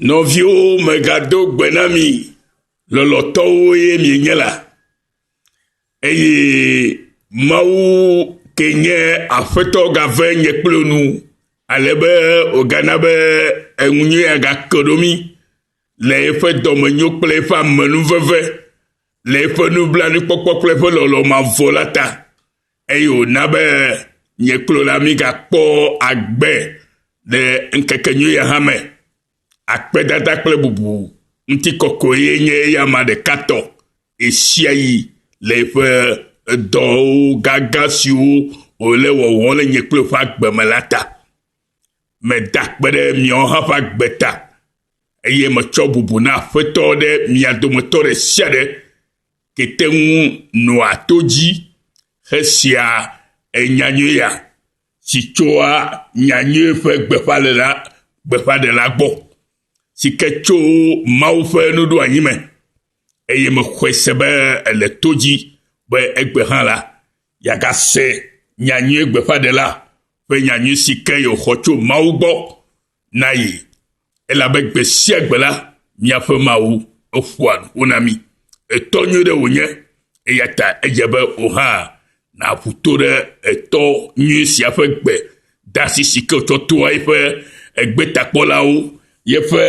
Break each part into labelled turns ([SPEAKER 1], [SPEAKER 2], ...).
[SPEAKER 1] Nɔviwo megado gbe na mi lɔlɔ̃tɔwo ye mienye la, eye Mawu ke nye Aƒetɔ gave nye kple nu, ale be wògana be eŋunyɔe agake ɖo mí le eƒe dɔmenyo kple eƒe amenuveve, le eƒe nublanuikpɔkpɔ kple eƒe lɔlɔ̃ mavɔ la ta. Eye wòna be nye klo la migakpɔ agbe le ŋkekenyui ya hã me. Akpedada kple bubu ŋutikɔkɔe nye eya ma ɖeka tɔ ɣesiaɣi le eƒe dɔwo gãgã siwo wòle wɔwɔ le nye kple ƒe agbe me la ta. Meda akpe ɖe miawo hã ƒe agbe ta, eye metsɔ bubu na Aƒetɔ ɖe mia dometɔ ɖe sia ɖe Tete ŋu nɔa to dzi hesea nya nyuia si tsoa nya nyui ƒe gbeƒãɖela gbeƒãɖela gbɔ, si ke tso Mawu ƒe nuɖoanyi me, eye mexɔe se be ele to dzi be egbe hã la, yeagase nya nyui gbeƒãɖela ƒe nya nyui si ke yewòxɔ tso Mawu gbɔ na ye, elabe gbe sia gbe la, míaƒe Mawu eƒoa nu ƒo na mí. Etɔ nyui ɖe wònye, eya ta edze be wò hã nàƒu to ɖe etɔ nyui sia ƒe gbe dasi si ke wòtsɔ toa eƒe egbetakpɔlawo, yeƒe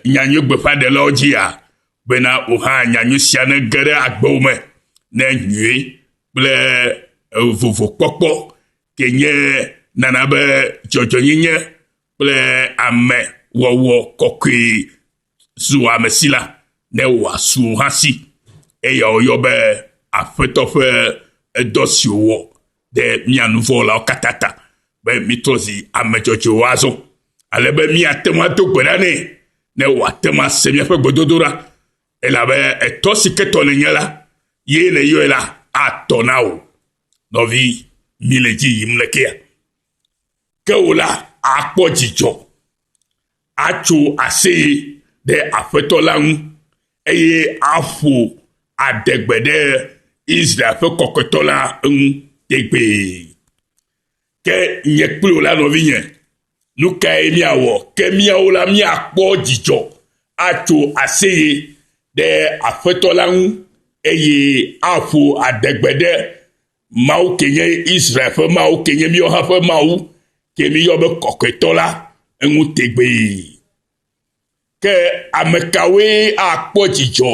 [SPEAKER 1] nyanyui gbeƒãɖelawo dzia, bena wò hã nyanyui sia nege ɖe agbewò me ne nyui kple vovokpɔkpɔ ke nye nana be dzɔdzɔnyenye kple ame wɔwɔ kɔkɔe zu ame si la, ne wòasu o hã si. Eya wòyɔ be Aƒetɔ ƒe edɔ si wòwɔ ɖe mía nu vɔ̃ wɔlawo katã ta be mítrɔ zi ame dzɔdzɔewo azɔ, ale be míate ŋu ado gbe ɖa nɛ, ne wòate ŋu ase míaƒe gbedodoɖa, elabe etɔ si ketɔ nènye la, ye nèyɔe la, atɔ na wò. Nɔvi, mi le dzi yim lekea? Ke wò la, àkpɔ dzidzɔ, atso aseye ɖe Aƒetɔ la ŋu, eye aƒo adegbe ɖe Israel ƒe Kɔkɔetɔ la ŋu tegbee. Ke nye kple wò la, nɔvinye, nu kae míawɔ? Ke míawo la, míakpɔ dzidzɔ atso aseye ɖe Aƒetɔ la ŋu, eye aƒo adegbe ɖe Mawu ke nye Israel ƒe Mawu, ke nye míawo hã ƒe Mawu, ke míyɔ be Kɔkɔetɔ la, eŋu tegbee. Ke ame kawoe akpɔ dzidzɔ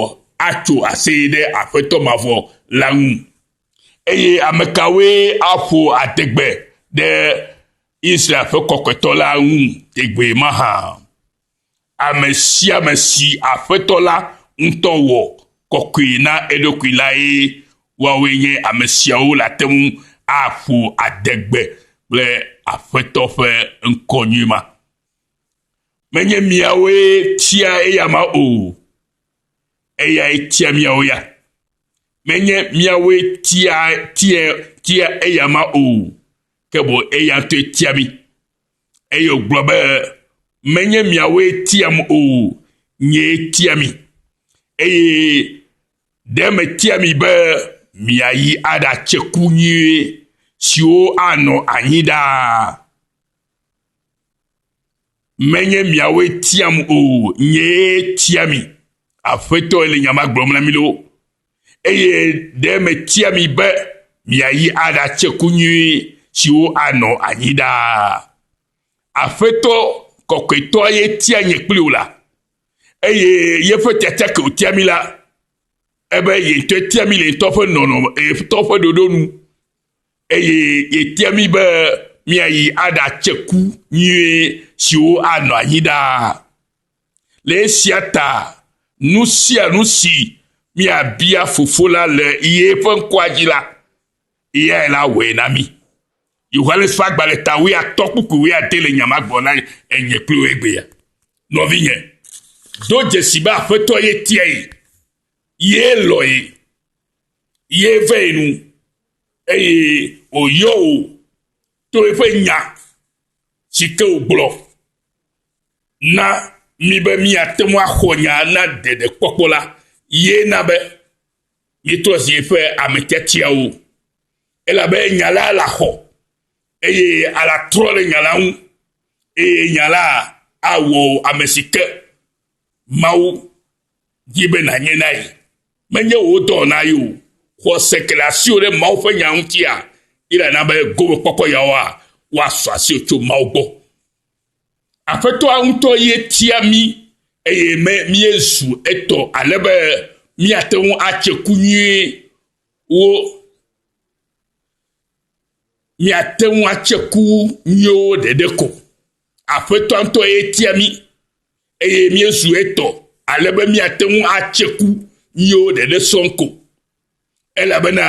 [SPEAKER 1] atso aseye ɖe Aƒetɔ mavɔ la ŋu? Eye ame kawoe aƒo adegbe ɖe Israel ƒe Kɔkɔetɔ la ŋu tegbee mahã? Ame sia ame si Aƒetɔ la ŋutɔ wɔ kɔkɔe na eɖokui lae, woawoe nye ame siawo le ate ŋu aƒo adegbe kple Aƒetɔ ƒe ŋkɔ nyui ma. Menye miawoe tia eya ma o, eyae tia miawo ya. Menye miawoe tia tia tia eya ma o, ke bo eya ŋutɔe tia mi. Eye wògblɔ be, menye miawoe tiam o, nyee tia mi. Eye ɖe metia mi be miayi aɖatse ku nyuie siwo anɔ anyi ɖaa. Menye miawoe tiam o, nyee tia mi. Aƒetɔe le nya ma gblɔm na mi ɖo. Eye ɖe metia mi be miayi aɖatse ku nyui siwo anɔ anyi ɖaa. Aƒetɔ kɔkɔetɔa ye tia nye kpli wò la, eye yeƒe tiatia ke wòtia mi la, ebe ye ŋutɔe tia mi le ŋutɔ ƒe nɔnɔme, ŋutɔ ƒe ɖoɖo nu. Eye yetia mí be míayi aɖatse ku nyuie siwo anɔ anyi ɖaa. Le esia ta, nu sia nu si míabia Fofo la le ye ƒe ŋkɔa dzi la, eyae la awɔe na mí. Yohanes ƒe agbalẽ ta wuiatɔ̃ kpukpui wuiade le nya ma gbɔ na enye kple wò egbea. Nɔvinye, do dzesi be Aƒetɔ ye tiae, ye lɔ̃e, ye vee nu, Eye wòyɔ wò to eƒe nya si ke wògblɔ na mi be miate ŋu axɔ nya na ɖeɖekpɔkpɔ la, ye na be mietrɔ zi eƒe ame tiatiawo, elabe nya la le axɔ, eye ala trɔ ɖe nya la ŋu, eye nya la awɔ ame si ke Mawu di be nànye na ye. Menye wò dɔ na ye o. Xɔse ke le asiwò ɖe Mawu ƒe nya ŋutia, ye nàna be gomekpɔkpɔ yawoa woasɔ asiwò tso Mawu gbɔ. Aƒetɔa ŋutɔ ye tia mí eye me míezu etɔ ale be míate ŋu atse ku nyuiwo míate ŋu atse ku nyuiwo ɖeɖe ko. Aƒetɔa ŋutɔ ye tia mí. Eye míezu etɔ ale be míate ŋu atse ku míwo ɖeɖe sɔŋ ko. Elabena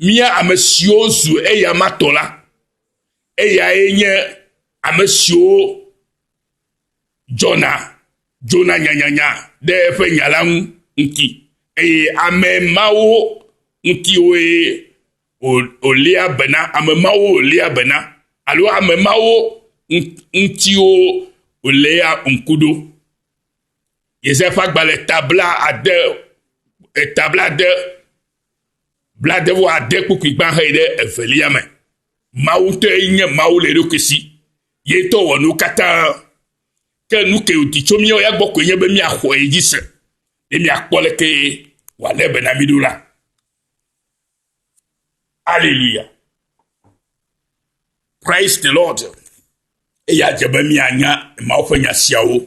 [SPEAKER 1] mía ame siwo zu eya ma tɔ la, eyae nye ame siwo dzɔna dzona nyanyanya ɖe eƒe nya la ŋu ŋuti, eye ame mawo ŋutiwoe wòlia bena, ame mawo wòlia bena, alo ame mawo ŋutiwo wòléa ŋku ɖo. Yesaya ƒe agbalẽ ta bla ade, eta bla ade, bla ade vɔ ade kpukpui gbã xeyi ɖe evelia me. Mawu ŋutɔe nye Mawu le eɖokui si. Ye ŋutɔ wɔ nu katã. Ke nu ke wòdi tso míawo ya gbɔ koe nye be míaxɔe dzi se. Ye míakpɔ leke wòalé be na mí ɖo la. Hallelujah. Praise the Lord. Eya dze be mianya Mawu ƒe nya siawo.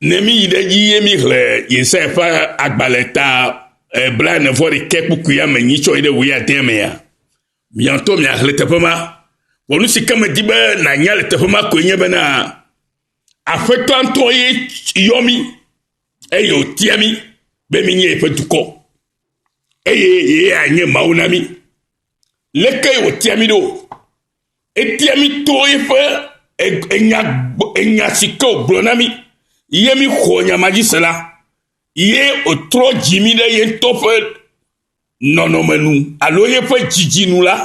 [SPEAKER 1] Ne mi yi ɖe dzi ye mi hle Yesaya ƒe agbalẽ ta eh, bla ne vɔ ɖekɛ kpukpui ame nyi tsɔ yi ɖe wòye ade me ya. Miantɔ mia hle teƒe ma. Wɔnu si ke me di be nanya le teƒe ma koe nye be na aƒetɔ ŋutɔ ye yɔ mi eye wòtia mi be mi nye eƒe dukɔ. eye yee anye Mawu na mí. Lekee wòtia mí ɖo? Etia mí to eƒe enya, enya si ke wògblɔ na mí, ye mí xɔ nya ma dzi se la, ye wòtrɔ dzi mí ɖe ye ŋutɔ ƒe nɔnɔme nu alo yeƒe dzidzi nu la,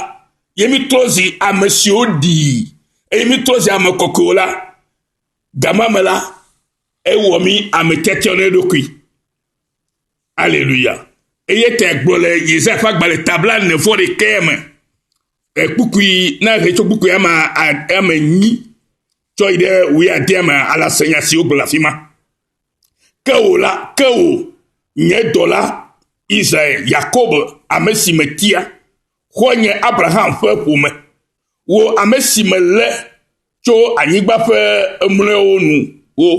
[SPEAKER 1] ye mí trɔ zi ame siwo ɖii, eye mí trɔ zi ame kɔkɔewo la, gama me la, ewɔ mí ame tiatiawo ɖe eɖokui. Aleluya. Eye te gblɔ le Yesaya ƒe agbalẽ tabla ne vɔ ɖekɛ me. Ekpukui na he tso kpukui ama ame nyi tsɔ yi ɖe wui ade ame ala se nya siwo gblɔ afi ma. Ke wò la, ke wò nye dɔla Israel, Yakob, ame si me tia, xɔ nye Abraham ƒe ƒome. Wò ame si me le tso anyigba ƒe emlɔewo nu wo,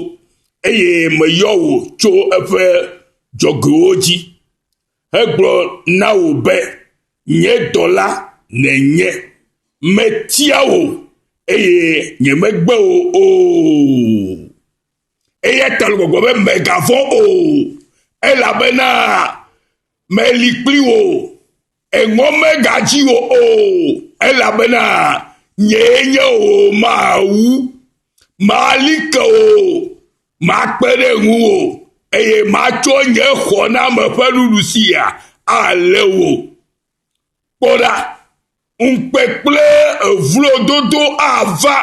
[SPEAKER 1] eye meyɔ wò tso eƒe dzɔgoewo dzi hegblɔ na wò be, Nye dɔla nènye. Metia wò, eye nyemegbe wò o. Eya ta le gbɔgblɔ be, Mègavɔ̃ o, elabena meli kpli wò. Eŋɔ megadzi wò o, elabena nyee nye wò Mawu. Mali ke wò, makpe ɖe ŋuwò, eye matsɔ nye xɔname ƒe nuɖusia alé wò. Kpɔ ɖa, ŋukpe kple evlododo ava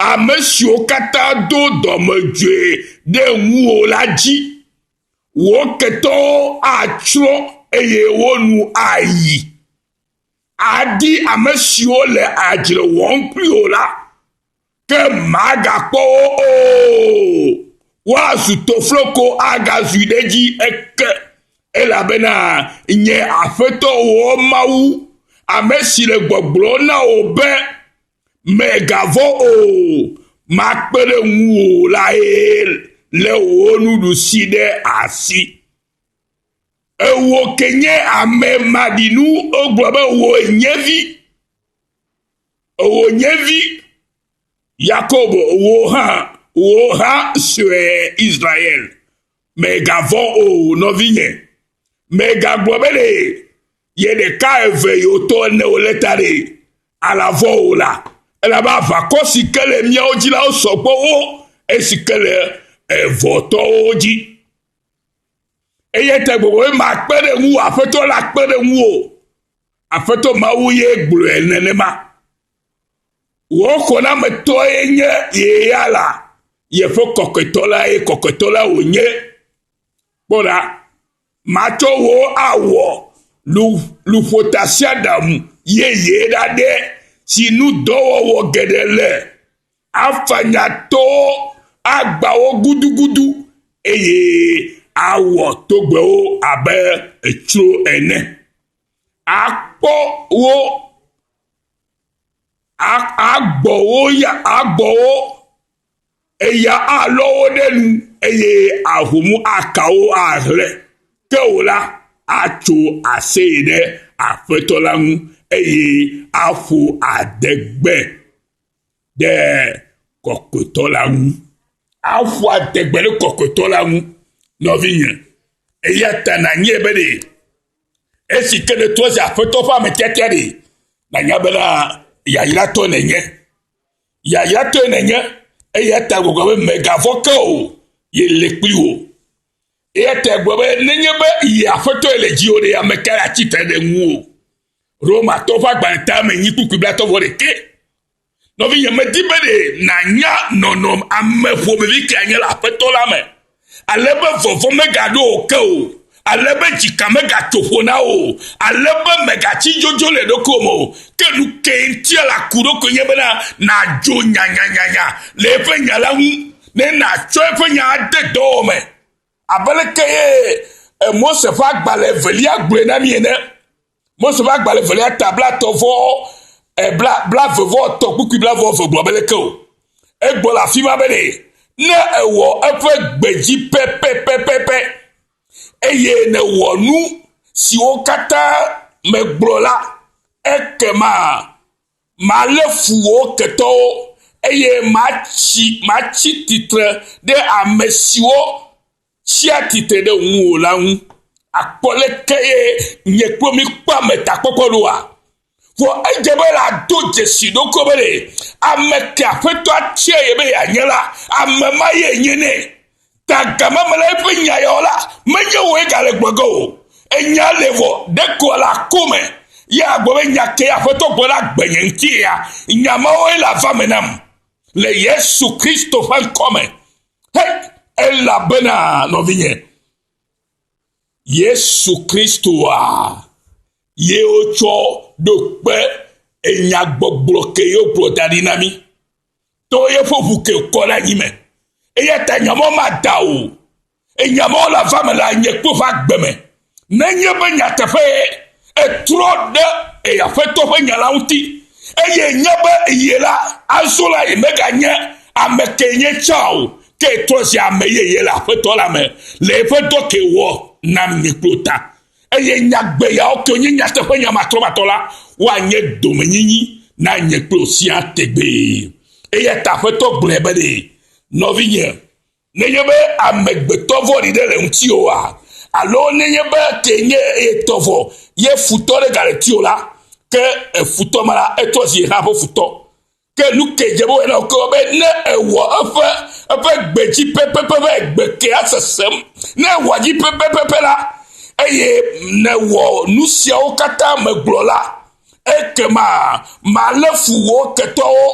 [SPEAKER 1] ame siwo katã do dɔmedzoe ɖe ŋuwò la dzi. Wò ketɔwo atsrɔ̃ eye wo nu ayi. Adi ame siwo le adzre wɔm kpli wò la, ke màgakpɔ wo o. Woazu tofloko agazu ɖe edzi eke, elabena nye Aƒetɔ wò Mawu, ame si le gbɔgblɔm na wò be, Mègavɔ̃ o, makpe ɖe ŋuwò lae lé wò nuɖusi ɖe asi. Ewò ke nye ame maɖinu, wogblɔ be wò nye vi, wò nye vi, Yakobo, wò hã, wò hã sue Israel. Mègavɔ̃ o, nɔvinye, mègagblɔ be ɖe Ye ɖeka eve yi wòtɔ ene wòlé ta ɖe alãvɔ o la, elabe aʋakɔ si ke le míawo dzi la wosɔ gbɔ wu esi ke le evɔtɔwo dzi. Eye te gbogbo be makpe ɖe ŋuwò, Aƒetɔ la kpe ɖe ŋuwò. Aƒetɔ Mawu ye gblɔe nenema. Wò xɔnametɔe nye ye ya la, yeƒe kɔkɔetɔ lae, kɔkɔetɔ la wònye. Kpɔ ɖa, Matsɔ wò awɔ luƒotasiaɖamu yeye ɖaɖɛ si nu dɔwɔwɔ geɖe le, afanya towo, agbã wo gudugudu, eye awɔ togbɛwo abe etsro ene. Akpɔ wo, agbɔ wo ya, agbɔ wo Eya alɔ wo ɖe nu, eye ahom aka wo ahlẽ, ke wò la, atso aseye ɖe Aƒetɔ la ŋu, eye aƒo adegbe ɖe Kɔkɔetɔ la ŋu. Aƒo adegbe ɖe Kɔkɔetɔ la ŋu, nɔvinye, eya ta nànyae be ɖe esi ke nètrɔ zi Aƒetɔ ƒe ame tiatia ɖe, nànya bena yayratɔ nènye. Yayatɔe nènye, eya ta gbɔgblɔ be mègavɔ ke o, yele kpli wò. Eya ta gblɔ be nenye be yi aƒetɔe le dziwò ɖe, ame kae atsi tre ɖe ŋuwò? Romatɔ ƒe agbalẽ ta me nyi kpukpui blatɔ vɔ ɖekɛ. Nɔvinye, medi be ɖe nànya nɔnɔm ame ƒomevi kae nye le aƒetɔ la me. Ale be vɔvɔ̃ megaɖo wò ke o, ale be dzika megatso ƒo na wò o, ale be mègatsi dzodzo le ɖokuiwò me o. Ke nu kae ŋuti la ku ɖo koe nye bena nàdzo nyanyanyanya le eƒe nya la ŋu, ne nàtsɔ eƒe nya ade dɔwɔme. Abe lekee Mose ƒe agbalẽ evelia gblɔe na mí ene. Mose ƒe agbalẽ evelia ta blatɔ vɔ eh, bla, bla ve vɔ tɔ kpukpui bla vɔ ve gblɔ be leke o. Egbɔ le afi ma be ne, ne ewɔ eƒe gbe dzi pɛpɛpɛpɛpɛ, eye newɔ nu siwo katã megblɔ la, ekema malé fu wò ketɔwo, eye matsi, matsi titre ɖe ame siwo tsia tsitre ɖe ŋuwò la ŋu akpɔ leke ye nye kple mi kpɔa me takpɔkpɔ ɖoa? Vɔ edze be yeado dzesi ɖokui be ɖe ame ke Aƒetɔ atia ye be yeanye la, ame ma ye nye nɛ. Ta gama me la, eƒe nya yawo la, menye wòe gale gblɔ ge o. Enya le vɔ, ɖeko ele aku me. Ye agblɔ be, Nya kae Aƒetɔ gblɔ ɖe agbe nye ŋuti ya? Nya mawoe le ava me nam. Le Yesu Kristo ƒe ŋkɔ me, He, elabena nɔvinye, Yesu Kristoa ye wotsɔ ɖo kpe enyagbɔgblɔ ke ye wogblɔ da ɖi na mí to yeƒe ʋu ke kɔ ɖe anyi me. Eya ta nyamɔ mada o. Enyamɔ la va me le anyekpe ƒe agbe me. Nenye be nyateƒee ètrɔ ɖe eya Aƒetɔ ƒe nya la ŋuti, eye ènya be eye la, azɔ la yemeganye ame kee nye tsã o, ke trɔ zi ame yeye le Aƒetɔ la me, le eƒe dɔ ke wòwɔ nam nye kplo ta, eye nyagbe yawo ke wonye nyateƒenya matrɔmatɔ la, woanye domenyinyi na nye kplo siaa tegbee. Eya ta Aƒetɔ gblɔe be nɔvinye, Nenye be amegbetɔ vɔ̃ɖi ɖe le ŋutiwòa, alo nenye be kee nye eye tɔ vɔ ye futɔ ɖe gale ŋutiwò la, ke efutɔ ma la, etsɔ zi ye hã ƒe futɔ. Ke nukae dze be wòawɔ na wò keŋ be ne ewɔ eƒe eƒe gbe dzi pɛpɛpɛ be gbe kea sesem? Ne ewɔa dzi pɛpɛpɛpɛ la, eye nèwɔ nusiawo katã megblɔ la, Ekema malé fu wò ketɔwo,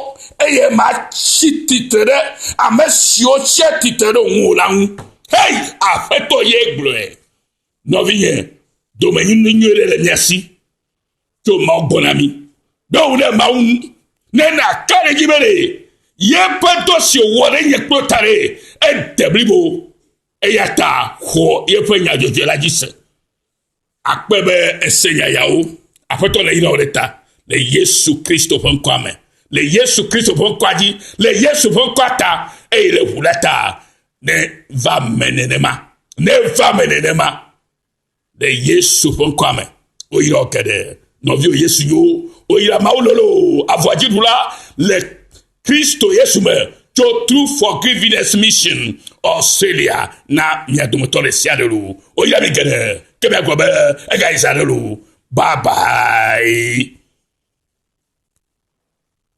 [SPEAKER 1] eye matsi tsitre ɖe ame siwo tsia tsitre ɖe ŋuwò la ŋu. Hei, Aƒetɔ ye gblɔe. Nɔvinye, domenyinu nyui ɖe le mia si tso Mawu gbɔ na mi. Ɖo ŋu ɖe Mawu ŋu, ne nàka ɖe edzi be ɖe yeƒe dɔ si wòwɔ ɖe nye kple ta ɖe ede blibo, eya ta xɔ yeƒe nya dzɔdzɔe la dzi se. Akpɔe be ese yayawo. Aƒetɔ le yrawo ɖe ta le Yesu Kristo ƒe ŋkɔa me, le Yesu Kristo ƒe ŋkɔa dzi, le Yesu ƒe ŋkɔa ta, eye le ʋu la ta. Ne va me nenema, ne va me nenema, le Yesu ƒe ŋkɔa me. Woyra wo geɖe. Nɔviwo Yesu yo, woyra Mawu lolo, avɔdziɖula le Kristo Yesu me tso True Forgiveness Mission Australia na mia dometɔ ɖe sia ɖe loo. Woyra mi geɖe ke miagblɔ be egayi zã ɖe loo. Bye bye.